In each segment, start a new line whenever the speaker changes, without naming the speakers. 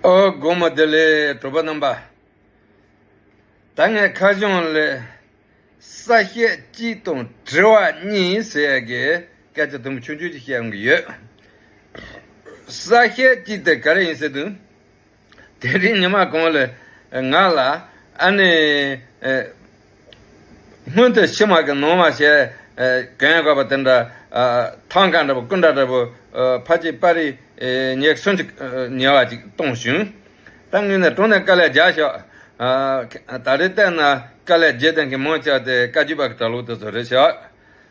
སྒོ་མོ་དེ་ལས་གྲུབ་པ་རྣམ་པ་ད་སྔའི་མཁའ་སྦྱོང་ལས་ས་བཤད་གཅིག་དང་དྲི་བ་གཉིས་ཟེར་ཡས་ཀྱི་སྐད་ཆ་དུམ་བུ་ཆུང་ཆུང་ཞིག་བཤད་འོང་གི་ཡོད། ས་བཤད་གཅིག་དེ་ག་རེ་ཡིན་ཟེར་དུས། དེ་རིང་ཉི་མ་གང་ལ་ང་ལ་ཨ་ནེ་སྔོན་དུ་ཕྱི་མ་གི་ནང་མ་བྱས་གན་དགོས་པ་དེ་འདྲ་ཐང་ག་འདྲ་པོ་སྐུ་འདྲ་འདྲ་པོ་ཕ་གཅིག་པ་རི་ཉེག་གསུམ་གཅིག་ཉེ་བ་ཅིག་གཏོང་བྱུང། ད་ངུས་ནས་དྲུང་ནས་དཀའ་ལས་རྒྱག་ཤོག། ད་རེ་བལྟས་ན་དཀའ་ལས་རྒྱས་ལྡན་གྱི་མང་ཆགས་དེ་བཀའ་བརྒྱུད་པ་གི་གྲྭ་ལོག་དེ་ཚོ་རེད་ཤག།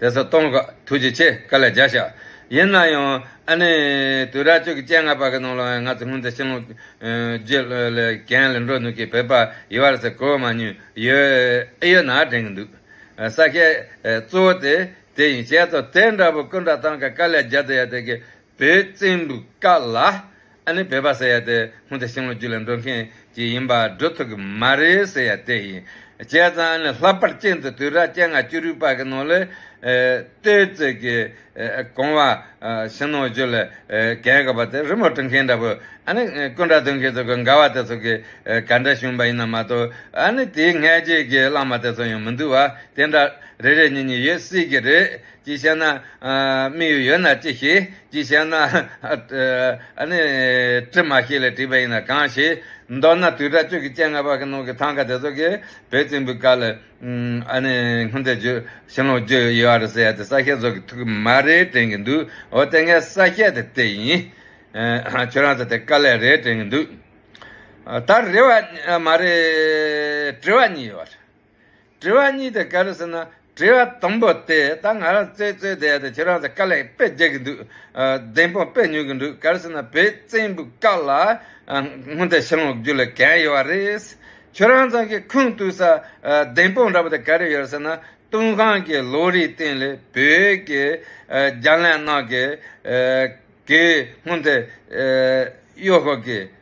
དེ་སོགས་སྟོང་བཀའ་ཐུགས་རྗེ་ཆེ་བཀའ་ལ་རྒྱ་ཞག། ཡིན་ན་ཡང་ཨ་ནི་དུས་རབས་བཅུ་གྱི་སྤྱན་སྔ་པ་གི་ནང་ལ་ཡང་ང་ཚོ་སྔོན་ཚེ་ཤིང་ལོ་རྒྱུས་ལ་གྱེན་ལ་འགྲོ་ནུས་ཀྱི་བོད་པ་ཡོད་རེད་ཟེར་གོ་མ་ཉོན་ཡོད་ཨེ་ཡོད་ན་དྲན་གྱི་འདུག་ས་སྐྱའི་གཙོ་བོ་དེ་དེ་ཡིན་བྱས་ཙོ་དེ་འདྲ་བོ་སྐུ་འདྲ་ཐང་ག་བཀའ་ལ་རྒྱ་དེ་ཡ་དེ་གི་བོད་བཙན་པོའི་བཀའ་ལ། ཨ་ནི་བོད་པ་ཟེར་ཡ་དེ་སྔོན་དེ་ཤིང་ལོ་རྒྱུས་ལ་འགྲོ་མཁན་གྱི་ཡིན་པ་བགྲོ་ཐུབ་ཀྱི་མ་རེད་ཟེར་ཡ་དེ་ཡིན། བྱས་ཙང་ཨ་ནི་ལྷག་པར་སྐྱེས་འདི་དུས་རབས་སྐྱེ་ལྔ་བཅུ་རུའི་བར་གྱི་ནང་ལས། ལྟོས་བཅས་ཀྱི་གོང་བ་ཤིང་ལོ་རྒྱུས་ལ་གན་དགོས་པ་དེ་རི་མོ་བྲི་མཁན་འདྲ་བོ་ཨ་ནི་སྐུ་འདྲ་འདོན་མཁན་ཚོ་གི་འགའ་བ་དེ་ཚོ་གི་ག་འདྲ་བྱུང་བ་ཡིན་ནམ་མ་གཏོགས་ཨ་ནི་དེའི་སྔས་རྗེས་ཀྱི་བླངས་མ་དེ་ཚོ་ཡང་མི་འདུག་བ་དེ་འདྲ་རེ་རེ་གཉིས་གཉིས་ཡོད་སྲིད་ཀྱི་རེད་ཅིག་བྱས་ན་དམིགས་ཡུལ་ཡོད་ན་ཅིག་ཤེས། ཅིག་བྱས་ན། ཨ་ནི། དྲི་མ་ཞིག་ལས་བྲིས་པ་ཡིན་ན་གང་ཞིག། མདོར་ན་དུས་དྲག་སྤྱོད་ཀྱི་སྤྱན་སྔ་བར་གྱི་ནང་གི་ཐང་ག་དེ་ཚོ་གིས་བོད་བཙན་པོའི་སྐབས་ལ། ཨ་ནི། སྔོན་ཚེ་བརྗོད། ཤིང་ལོང་བརྗོད་ཡོད་རེད་ཟེར་ཡ་དེ་ས་སྐྱའི་ཚོགས་ཀྱི་ཐུགས་ཀྱི་མ་རེད་དྲན་གྱི་འདུག་འོ་དེ་སྔའི་ས་སྐྱ་དེ་དེ་ཡིན། ཁྱོད་རང་ཚོ་དེ་དཀའ་ལས་རེད་དྲན་གྱི་འདུག། ད་རེ་བ། མ་རེད། དྲི་བ་གཉིས་ཡོད་རེད། དྲི་བ་གཉིས་དེ་ག་རེ་ཟེར་ན་དྲི་བ་དང་པོ་དེ་ད་ང་རང་རྩེད་རྩོད་དེ་ཡ་དེ་ཁྱེད་རང་ཚོ་དཀའ་ལས་དཔེ་རྒྱག་གི་འདུག་བདེན་དཔང་དཔེ་ཉོ་གི་འདུག་ག་རེ་ཟེར་ན་བོད་བཙན་པོའི་སྐབས་ལ་སྔོན་ལྟར་ཕྱི་ལོག་རྒྱུ་ལ་གན་ཡོད་བ་རེད། ཁྱོད་རང་ཚང་གི་ཁུངས་གཏུགས་ས་བདེན་དཔང་འདྲ་པོ་དེ་ག་རེ་ཡོད་ཟེར་ན་ཏུན་ཧང་གི་ལོ་རིའི་སྟེང་ལས་བོད་ཀྱི་རྒྱ་ལས་ནང་གི་གི་སྔོན་ལྟར་གཡོ་ཤོག་གི།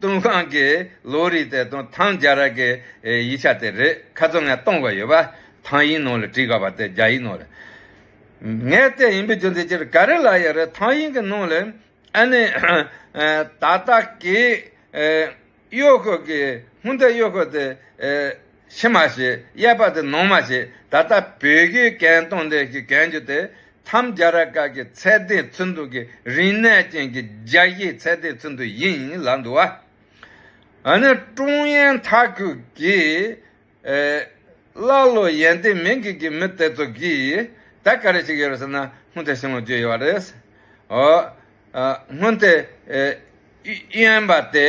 ཏུང་ཧྲང་གི་ལོ་རེའི་ཚེ་ཏུང་ཐང་རྒྱ་ར་གི་ཡིག་ཆ་དེ་རེད་ཁ་ཚོན་ངས་སྟོང་པ་ཡོད་པ་ཐང་ཡིག་ནང་ལ་བྲིས་དགའ་བ་དེ་རྒྱ་ཡིག་ནང་ལ་ངས་བལྟས་ཡིན་པའི་རྒྱུ་མཚན་ཅི་རེད་ག་རེ་ལ་ཡོད་རེད་ཐང་ཡིག་གི་ནང་ལ་ཨ་ནི་ད་ལྟ་གི་གཡོག་ཁོ་གི་སྔོན་ད་གཡོག་ཁོ་དེ་ཕྱི་མ་ཞེས་དབྱེ་བ་དེ་ནང་མ་ཞེས་ད་ལྟ་བོད་རྒྱའི་གྱེན་སྟོང་འདི་ཞེས་གྱོན་རྒྱུ་དེ་ཐམས་རྒྱ་ར་ཀ་གི་ཚད་ལྡན་ཚུལ་འདུག་གི་རིག་གནས་ཅན་གྱི་རྒྱ་ཡི་ཚད་ལྡན་ཚུལ་འདུག་ཡིན་ལ་འདུག་བ། ཨ་ནི་ཀྲུང་དབྱང་མཐའ་ཁུལ་གྱིས་ཀླ་ཀློ་ཡན་ཏན་མིན་གྱི་གི་མི་དེ་ཚོ་གིས་ད་ག་རེ་ཞིག་ཡོད་རེད་ཟེར་ན་སྔོན་དེ་བྱུང་བ་བརྗོད་ཡོད་རེད། ཨོ། སྔོན་དེ་དབྱིན་པ་དེ།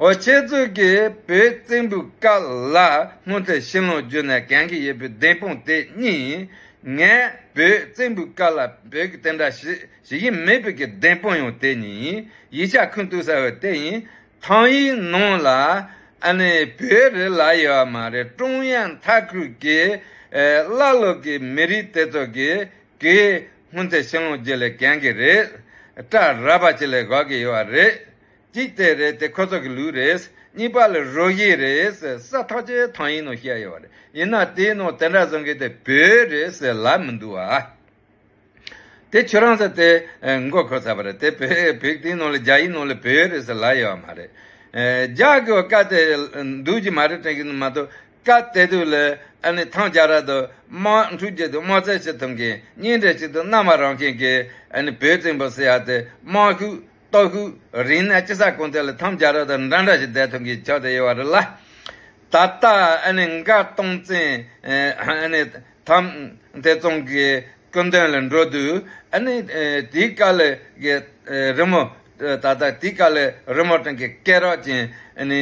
འོ་ཁྱེད་ཚོ་གིས་བོད་བཙན་པོའི་སྐབས་ལ་སྔོན་ཚེ་བཤད་ལུང་བརྒྱུད་ནས་གན་གི་ཡོད་པའི་བདེན་དཔུང་དེ་གཉིས་ཡིན། ངས་བོད་བཙན་པོའི་སྐབས་ལ་བོད་ཀྱི་དེ་འདྲ་ཞིག་ཞིག་ཡིན་མེད་བོད་ཀྱི་བདེན་དཔུང་ཡང་དེ་གཉིས་ཡིན་ཡིག་ཆ་ཁུངས་གཏུགས་ས་ཡང་དེ་ཡིན། ཐང་ཡིག་ནང་ལ་ཨ་ནི་བོད་རིགས་ལ་ཡོད་བ་མ་རེད་ཀྲུང་དབྱང་མཐའ་ཁུལ་གྱི་བླ་སློབ་ཀྱི་མི་རིགས་དེ་ཚོ་གི་གིས་སྔོན་ཚེ་བཤད་ལུང་བརྒྱུད་ལས་གན་གི་རེད། སྐྲ་རལ་པ་ཅིག་ལས་དགོས་ཀྱི་ཡོད་རེད། གཅིག་དེ་རེད་དེ་ཁོ་ཚོ་གི་ལུས་རེད། གཉིས་པ་ལ་རོ་བཞི་རེད་ཟེར་ས་ཐག་ཆེ་ཐང་ཡིན་ནོ་བཤད་ཡོད་པ་རེད་ཡིན་ན་དེའི་ནང་དེ་འདྲ་བཟོ་མཁན་དེ་བོད་རེད་ཟེར་ལབ་མི་འདུག་ཨ། དེ་ཁྱོད་རང་ཚོ་དེ་མགོ་འཁོར་ཚར་བ་རེད་དེ་བོད་བོད་དེའི་ནང་ལ་རྒྱ་ཡི་ནང་ལ་བོད་རེད་ཟེར་ལབ་ཡོད་པ་མ་རེད། རྒྱ་གི་བཀའ་དེ་འདུག་གི་མ་རེད་དྲན་གི་མ་འདུག་བཀའ་དེ་དུ་ལ་ཨ་ནི་ཐང་རྒྱ་ར་དུ་དམག་འཁྲུག་བྱེད་དུ་དམག་རྩལ་བྱེད་ཐུབ་མཁན་གཉིས་འདྲ་ཞིག་འདུག་གནའ་མ་རང་མཁན་གྱི་ཨ་ནི་བོད་བཙན་པོ་ཟེར་ཡག་དེ་དམག་ཤུགས། སྟོད་ཤུག་རིང་ན་སྤྱི་ས་ཀུན་དེ་ལ་ཐང་རྒྱ་རོ་དང་འདྲ་འདྲ་ཞིག་བསྡད་ཐུབ་མཁན་ཆགས་དེ་ཡོད་པ་རེད་ལ། ད་ལྟ་མགར་སྟོང་བཙན་ཐང་དེ་བཙོང་གི་སྐུ་མདུན་ལ་འགྲོ་དུས་དེའི་དཀའ་ལས་ཀྱི་རི་མོ་ད་ལྟ་དེའི་དཀའ་ལས་རི་མོ་སྟེང་གི་སྐད་རགས་ཅན་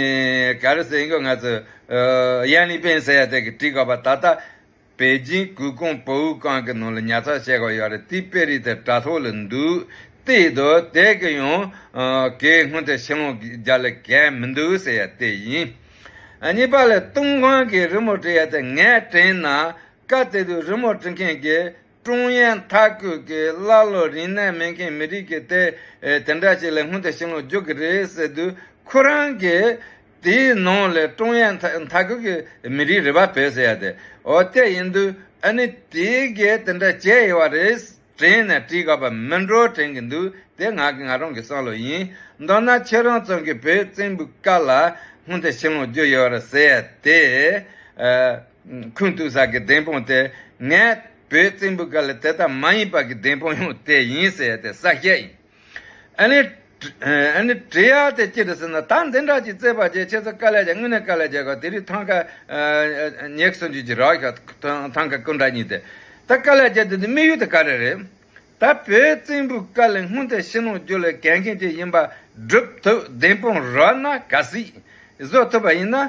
ག་རེ་ཟེར་འགྱུར་ང་ཚོས་ཡན་ལི་པེན་ཟེར་ཡ་དེ་གིས་བྲིས་དགོས་པ་ད་ལྟ་པེ་ཅིང་གུར་ཀོང་པོའུ་ཀང་གི་ནང་ལ་ཉར་ཚགས་བྱས་གོ་ཡོད་རེད་དེའི་དཔེ་རིས་དེ་དྲ་ཐོག་ལ་འདུག་ཏེ་དོ་དེ་གི་ཡང་གའི་སྔོན་དེ་ཕྱི་ལོག་རྒྱ་ལ་གས་མི་འདུག་ཟེར་ཡ་དེ་ཡིན། གཉིས་པ་ལ་ཏུང་ཧོང་གིས་རི་མོ་བྲི་ཡ་དེ་ངས་བྲིས་ན་དཀའ་དེ་དུས་རི་མོ་བྲི་མཁན་གྱི་ཀྲུང་དབྱང་མཐའ་འཁོད་ཀྱི་ཀླ་ཀློ་རིན་གནས་མེད་མཁན་མི་རིགས་ཀྱི་དེ་དེ་འདྲ་ཞིག་ལས་སྔོན་དུ་ཕྱིན་ལོག་འཇུག་གི་རེད་ཟེར་དུས་ཁོ་རང་གིས་དེའི་ནང་ལས་ཀྲུང་དབྱང་མཐའ་འཁོད་ཀྱི་མི་རིགས་རེད་པ་བོད་ཟེར་ཡ་དེ་འོ་དེ་ཡིན་དུས་ཨ་ནི་དེ་གས་དེ་འདྲ་བྱས་ཡོད་བ་རེད་དྲན་ནས་བྲིས་དགོས་པ་མིན་འགྲོ་དྲན་གི་འདུག་དེ་ང་གི་ང་རང་གི་བསམ་བློ་ཡིན་མདོར་ན་ཁྱེད་རང་ཚང་གི་བོད་བཙན་པོའི་སྐབས་ལ་སྔོན་དུ་ཕྱིན་ལོག་འཇུག་ཡོད་རེད་ཟེར་ཡ་དེ་ཨ། ཁུན་ཏུ་ས་གི་བདེན་དཔང་དེ་ངས་བོད་བཙན་པོའི་སྐབས་ལ་དེ་ལྟར་མ་ཡིན་པ་གི་བདེན་དཔང་ཡང་དེ་ཡིན་ཟེར་ཏེ་ས་བཤད་ཡིན། ཨ་ནི། ཨ་ནི། དྲི་ཡ་དེ་ཅི་རེད་ཟེར་ན་ད་འདི་འདྲ་ཅིག་བཙས་པ་རྗེས་ཁྱེད་ཚོ་དཀའ་ལས་བྱ་དངོས་གནས་དཀའ་ལས་བྱས་ཁར་དེ་རིགས་ཐང་ཀ། ཉེག་སོན་རྒྱུ་ཅིག་རག་ཤག་ཐང་ཀ་སྐུ་འདྲ་གཉིས་དེ་ད་དཀའ་ལས་བྱས་དེ་འདི་དམིགས་ཡུལ་དེ་ག་རེ་རེད། ད་བོད་བཙན་པོའི་སྐབས་ལ་དངུལ་དེ་ཕྱི་ནང་རྒྱུ་ལ་གལ་མཁན་ཅིག་ཡིན་པ་སྒྲུབ་ཐུབ་བདེན་དཔང་རག་ན་ག་སྲིད། བཟོ་ཐུབ་པ་ཡིན་ན་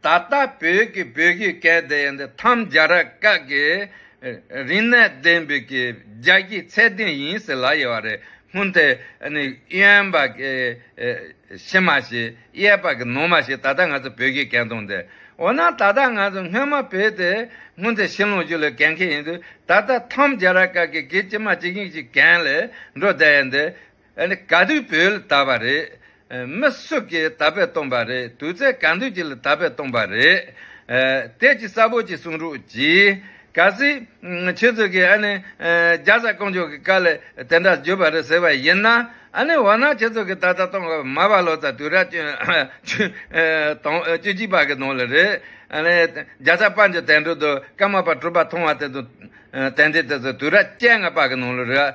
ད་ལྟ་བོད་ཀྱི་བོད་བརྒྱུད་སྐད་བརྡ་ཡིན་ཏེ་ཐམས་རྒྱ་ར་སྐད་ཀྱི་རིག་གནས་ལྡན་བོད་ཀྱི་རྒྱ་སྐྱེད་ཚད་ལྡན་ཡིན་ཟེར་ལ་ཡོད་པ་རེད་སྔོན་དེ་ནི་གཡོན་པ་ཀྱི་ཕྱི་མ་ཞིག་གཡས་པ་ཀྱི་ནུ་མ་ཞིག་ད་ལྟ་ང་ཚོ་བོད་བརྒྱུད་སྐད་འདོན་ཏེ་འོ་ན་ད་ལྟ་ང་ཚོ་སྔོན་མ་བོད་དེ་སྔོན་དེ་ཤིང་ལོང་ཅུ་ལས་གན་ཁེ་ཡིན་དུས་ད་ལྟ་ཐམས་རྒྱ་ར་སྐད་ཀྱི་གི་ཕྱི་མ་ཅིག་ཡིན་ཞིག་གན་ལས་འགྲོ་བསྡད་ཡིན་ཏེ། ག་དུས་བོས་ལ་དར་བ་རེད། མི་སུ་གིས་དར་བས་བཏོན་པ་རེད་དུས་ཚད་གང་འདོད་ཀྱིས་ལ་དར་བས་བཏོན་པ་རེད། དེ་ཅི་གསལ་པོ་ཅིག་གསུང་རོགས་གྱིས། ག་སྲིད། ཁྱེད་ཚོས་ཀྱིས་ཨ་ནི། རྒྱ་བཟའ་དཀོན་མཆོག་གི་བཀའ་ལས་དེ་འདྲ་བརྗོད་པ་རེད་ཟེར་བ་ཡིན་ན། ཨ་ནི་འོ་ན་ཁྱེད་ཚོ་གིས་ད་ལྟ་སྟོང་དགུ་མ་བ་ལོ་ཙཱ་དུས་རབས་བཅུ། བཅུ་གཅིག་པ་གི་ནང་ལ་རེད། ཨ་ནི། རྒྱ་བཟའ་དཔལ་འབྱོར་དད་འགྲོ་དུ་ཀརྨ་པ་གྲུབ་པ་མཐོང་བ་དེ་ཚོ། དད་འདི་དེ་ཚོ་དུས་རབས་བཅད་ལྔ་པ་གི་ནང་ལ་རེད།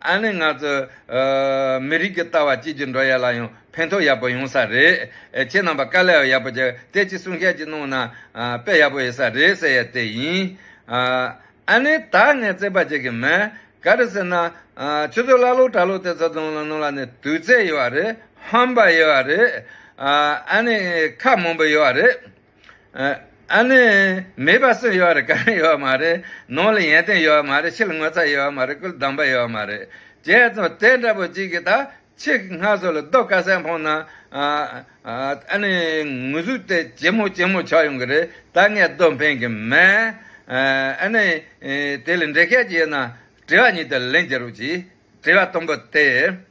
ཨ་ནི་ང་ཚོ་མི་རིགས་ཀྱི་ལྟ་བ་གཅིག་གྱུར་འགྲོ་ཡ་ལ་ཡང་ཕན་ཐོག་ཡག་པོ་ཡོང་ས་རེད། ཁྱེད་རྣམ་པ་དཀའ་ལས་ཡག་པོ་བྱས་དེ་ཅི་གསུང་བཤད་ཅིག་གནང་ན་དཔེ་ཡག་པོ་ཡོད་ས་རེད་ཟེར་ཡ་དེ་ཡིན། ཨ་ནི་ད་ངས་བརྩེ་བ་བྱེད་གི་མེད་ག་རེ་ཟེར་ན། ཁྱོད་ཚོ་ཀླ་ཀློ་གྲྭ་ལོག་དེ་ཚོ་དང་ནང་ལ་ནི་དུས་ཚད་ཡོད་རེད་ཧམ་པ་ཡོད་རེད། ཨ་ནི་ཁ་མང་པོ་ཡོད་རེད། ཨ་ནི། མེད་པ་སུ་ཡོད་རེད་གང་ཡོད་མ་རེད། ནང་ལ་ཡན་ཏན་ཡོད་མ་རེད་ཕྱི་ལ་ངོ་ཚ་ཡོད་མ་རེད་སྐུ་ལ་སྡང་པ་ཡོད་མ་རེད། བྱས་ཙང་དེ་འདྲ་པོ་གཅིག་གིས་ད་ཁྱི་སྔ་སོ་ལ་རྡོ་ཀ་སེ་འཕངས་ན། ཨ་ནི། ངུ་ཟུག་དེ་ཇེ་མོ་ཇེ་མོ་ཆགས་ཡོང་གི་རེད་ད་ངས་རྡོ་འཕེན་གི་མེད། ཨ་ནི། དེ་ལ་འདྲེ་སྐད་བྱས་ན་དྲི་བ་གཉིས་དང་ལན་བརྒྱ་རུ་གྱིས། དྲི་བ་དང་པོ་དེ།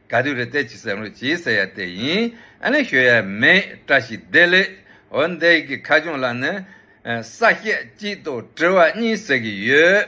ག་དུས་རེ་བལྟས་ཅི་ཟེར་ངོ་ཅི་ཟེར་ཡ་དེ་ཡིན་ཨ་ལེན་ཞོ་ཡ་མེད་བཀྲ་ཤིས་བདེ་ལེགས་འོ་འདས་ཀྱི་ཁ་སྐྱོང་ལ་ནི་ས་སྐྱ་གཅིག་དང་དྲི་བ་གཉིས་ཟེར་གྱི་ཡོད།